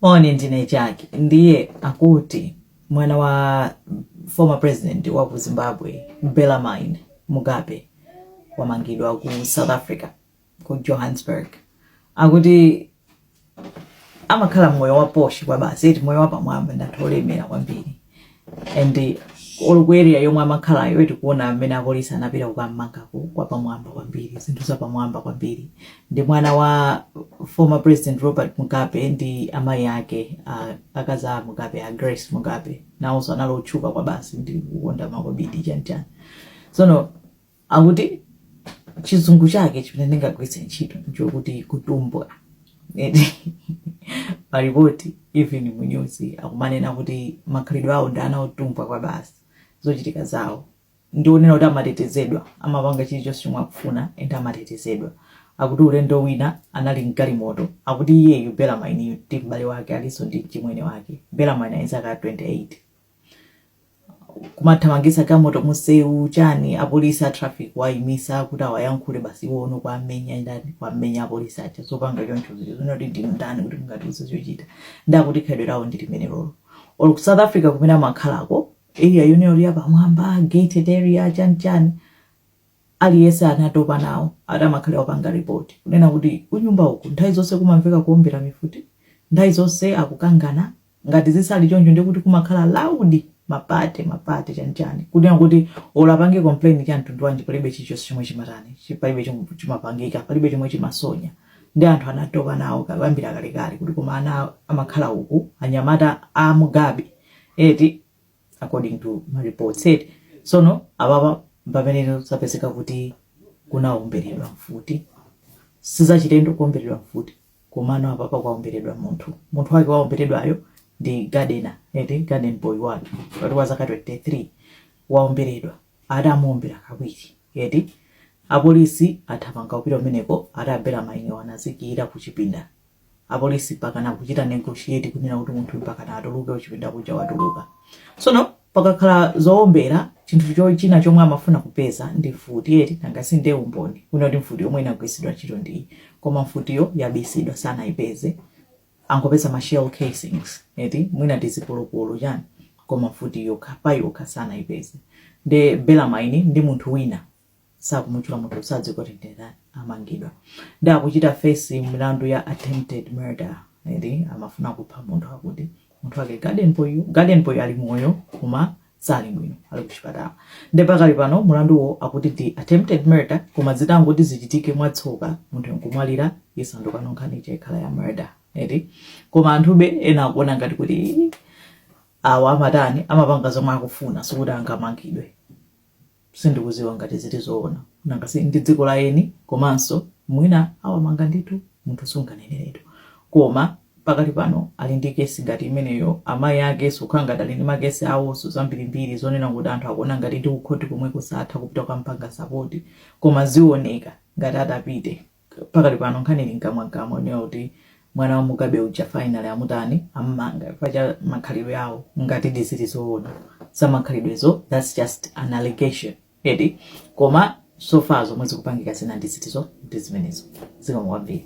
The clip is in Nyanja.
moni ndine chake ndiye akuti mwana wa former president wa ku zimbabwe bellarmine mugabe wamangidwa ku south africa ku johannesburg akuti amakhala moyo wa poshi kwabasi eti moyo wapamwamba ndathu olemera kwambiri and or ku area yomwe amakhalayo tikuona amene apolisi anapita kukamangaku kwapamwamba kwambiri zinthu zapamwamba kwambiri ndi mwana wa former president robert mugabe ndi amayi ake a- akazi a mugabe a grace mugabe nawonso anali otchuka kwabasi ndi kukonda makobidi chani chani tsono akuti chizungu chake chimene ndingagwiritse ntchito nchokuti kutumbwa eti malipoti even mu news akumanena kuti makhalidwe awo ndi ana otumbwa kwabasi zochitika zawo ndi onena kuti amatetezedwa amapanga chilichonse chomwe akufuna and amatetezedwa akuti ulendo wina anali mgalimoto akuti iyeyu bellarmine ndi m'bale wake alinso ndi mchimwene wake bellarmine ali zaka 28 kumathamangisa galimoto mumseu chani apolisi a traffic kuwaimisa kuti awayankhule basi iwo uno kuwamenya ndani kuwamenya apolisi aja zopanga choncho zonoti ndinu ndani kuti mungatiuze zochita ndi akuti khalidwe lawo ndi limenelolo or ku south africa kumene amakhalako area yonse ya pamwamba gated area chani chani aliyense anatopa nawo ati amakhala opanga report kunena kuti kunyumba uku nthawi zonse kumamveka kuombera mifuti nthawi zonse akukangana ngati zisali choncho ndiye kuti kumakhala loud ma party ma party chani chani kunena kuti olo apange complain ya mtundu wanji palibe chilichonse chomwe chimatani chi- palibe chomwe chimapangika palibe chomwe chimasonya ndi anthu anatopa nawo ka- kuyambira kalekale kuti koma ana amakhala uku anyamata a mugabe eti according to ma reports sono apapa mpamene zapezeka kuti kunaomberedwa mfuti sizachilendo kuomberedwa mfuti komano apapa kwaomberedwa munthu munthu wake waomberedwayo ndi gardener eti garden boy wake akuti wa zaka 23 waomberedwa adamuombera kawiri eti apolisi athamanga kupita kumeneko atabera mainyo anadzitsekera kuchipinda apolisi mpakana kuchita negotiate kunena kuti munthu mpakana atuluke kuchipinda kuja watuluka sono pakakhala zowombera chinthu cho- china chomwe amafuna kupeza ndi mfuti eti nanga si ndiye umboni kuti ndi mfuti yomwe inagwiritsidwa ntchito ndiyi koma mfutiyo yabisidwa sanayipeze angopeza ma shell casings eti mwina tizipolopolo chani koma mfuti yokha pa yokha sanayipeze ndi bellarmine ndi munthu wina sakumutchula munthu kuti sadziwe kuti ndi ndani amangidwa ndiye akuchita fesi milandu ya attempted murder eti amafuna kupha munthu akuti munthu wake garden boy garden boy ali moyo koma sali bwino ali kuchipatala ndiye pakali pano mulanduwo akuti ndi attempted murder koma zitangoti zichitike mwatsoka munthu nkumwalira isanduka nkhani ikhala ya murder eti koma anthube ena akuona ngati kuti awa amatani amapanga zomwe akufuna sikuti angamangidwe sindikuziwa ngati zili zoona nanga si ndi dziko la eni komanso mwina awamanga ndithu munthu sunganeneretu koma pakali pano ali ndi kesi ngati imeneyo amayi ake zikukhala ngati ali ndi makesi awonso zambirimbiri zonena kuti anthu akuona ngati ndi kukhoti komwe akusatha kupita kukampanga sapoti koma zioneka ngati atapite pakali pano nkhani ili mkamwamkamwa yonena kuti mwana wa mugabe uja finally amutani ammanga chifukwa cha makhalidwe awo ngatidi zili zoona zamakhalidwezo thats just an allegation eti koma so far zomwe zikupangika zina ndi ziti izo ndi zimenezo zikomo kwambiri